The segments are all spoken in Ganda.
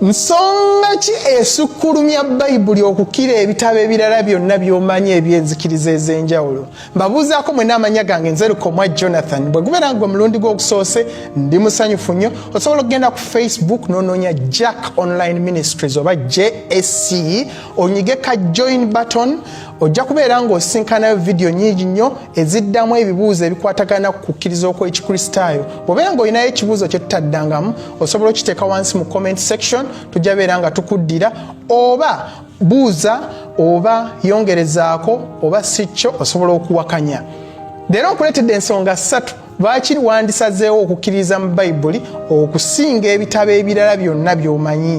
nsonga ki esukkulumya bayibuli okukira ebitabo ebirala byonna byomanyi ebyenzikiriza ez'enjawulo mbabuuzaako mwena amanya gange nzerukomwa jonathan bwe gubeera nga gwe mulundi gw'okusoose ndi musanyufu nnyo osobola okugenda ku facebook nononya jack online ministries oba jsc onyige ka join button ojja kubeera ng'osisinkanayo vidiyo nyingi nnyo eziddamu ebibuuzo ebikwatagana ku kukkiriza okw'ekikristaayo bw'obeera ng'olinayo ekibuuzo kye tutaddangamu osobola okiteeka wansi mu comment section tujja beera nga tukuddira oba buuza oba yongerezaako oba si kyo osobola okuwakanya leero nkuleetedde ensonga ssatu Lwaki wandisazeewo okukkiririza mu Bayibuli okusinga ebitabo ebirala byonna by'omanyi?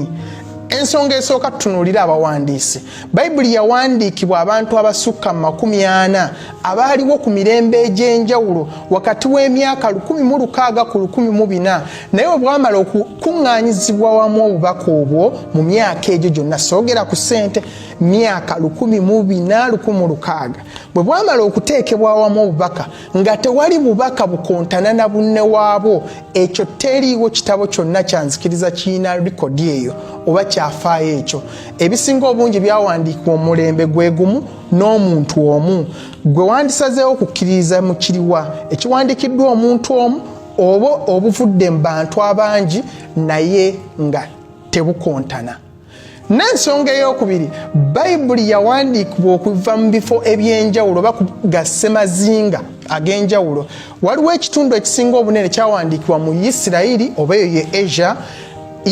Ensonga esooka tutunuulira abawandiisi. Bayibuli yawandiikibwa abantu abasukka mu makumi ana abaaliwo ku mirembe egy'enjawulo wakati w'emyaka 16 ku 14 naye obwamala okukuŋŋaanyizibwa wamu obubaka obwo mu myaka egyo gyonna soogera ku ssente myaka 14 bwe bwamala okuteekebwa wamu obubaka nga tewali bubaka bukontana na bunne waabwo ekyo teriiwo kitabo kyonna kyanzikiriza kirina likodi eyo oba kyafaayo ekyo ebisinga obungi byawandiikibwa omulembe gwe gumu n'omuntu omu gwe wandisazeewo okukkiririza mu kiriwa ekiwandiikiddwa omuntu omu oba obuvudde mu bantu abangi naye nga tebukontana n'ensonga ey'okubiri bayibuli yawandiikibwa okuva mu bifo eby'enjawulo oba ga ssemazinga ag'enjawulo waliwo ekitundu ekisinga obunene kyawandiikibwa mu isirayiri oba eyo ye asia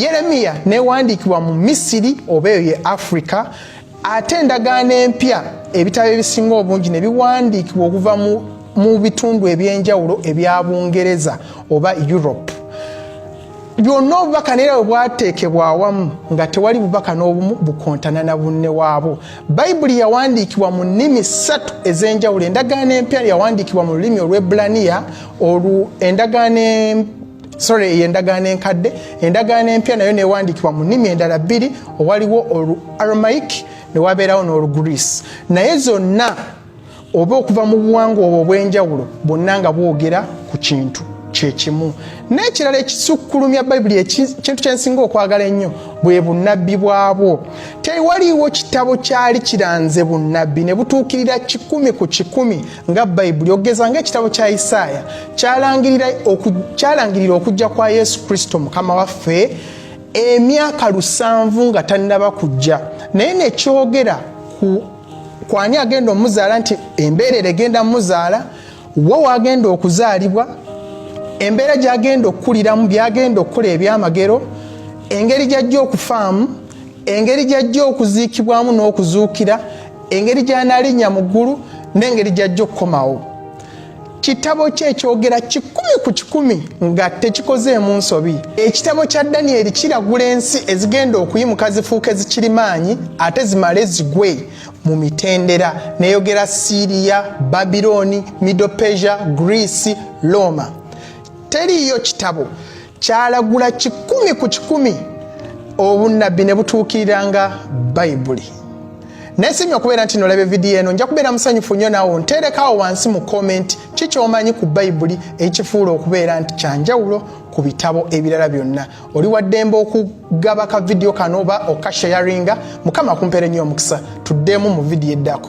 yeremiya newandiikibwa mu misiri oba eyo ye afrika ate endagaano empya ebitabo ebisinga obungi ne biwandiikibwa okuva mu bitundu eby'enjawulo ebya bungereza oba europe byonna obubaka naye bwe bwateekebwa awamu nga tewali bubaka n'obumu bukontana na bunne waabwo bayibuli yawandiikibwa mu nnimi ssatu ez'enjawulo endagaano empya yawandiikibwa mu lulimi olw'ebulaniya olwo endagaano sorry eyo endagaano enkadde endagaano empya nayo newandiikibwa mu nnimi endala bbiri owaliwo olu aromaik newabeerawo n'olugreece naye zonna oba okuva mu buwangwa obwo obw'enjawulo bwonna nga bwogera ku kintu kyekimu n'ekirala ekisukkulumya bayibuli ekintu kyensinga okwagala ennyo bwe bunnabbi bwabwo tewaliiwo kitabo kyali kiranze bunnabbi ne butuukirira kikumi ku kikumi nga bayibuli okugeza ngaekitabo kya isaaya kyalangirira okujja kwa yesu kristo mukama waffe emyaka lusanvu nga tannaba kujja naye nekyogera ku kwani agenda omuzaala nti embeerera egenda muzaala wa wagenda okuzaalibwa embeera gyagenda okukuliramu byagenda okukola ebyamagero engeri gyajja okufaamu engeri gyajja okuziikibwamu n'okuzuukira engeri gyanalinnya mu ggulu n'engeri gyajja okukomawo kitabo kye ekyogera kikumi ku kikumi nga tekikozeemu nsobi ekitabo kya danyeri kiragula ensi ezigenda okuyimuka zifuuka ezikirimaanyi ate zimale zigwe mu mitendera neyogera siriya babiloni mido pesia greece roma teriiyo kitabo kyalagula kikumi ku kikumi obunnabbi ne butuukiriranga bayibuli naye sinya okubeera nti nolaba evidiyo eno nja kubeera musanyufu nnyo nawo nteerekawo wansi mu komenti ki kyomanyi ku bayibuli ekifuula okubeera nti kyanjawulo ku bitabo ebirala byonna oli waddembe okugaba ka vidiyo kano oba okashayaringa mukama kumpeere nnyo omukisa tuddemu mu vidiyo eddako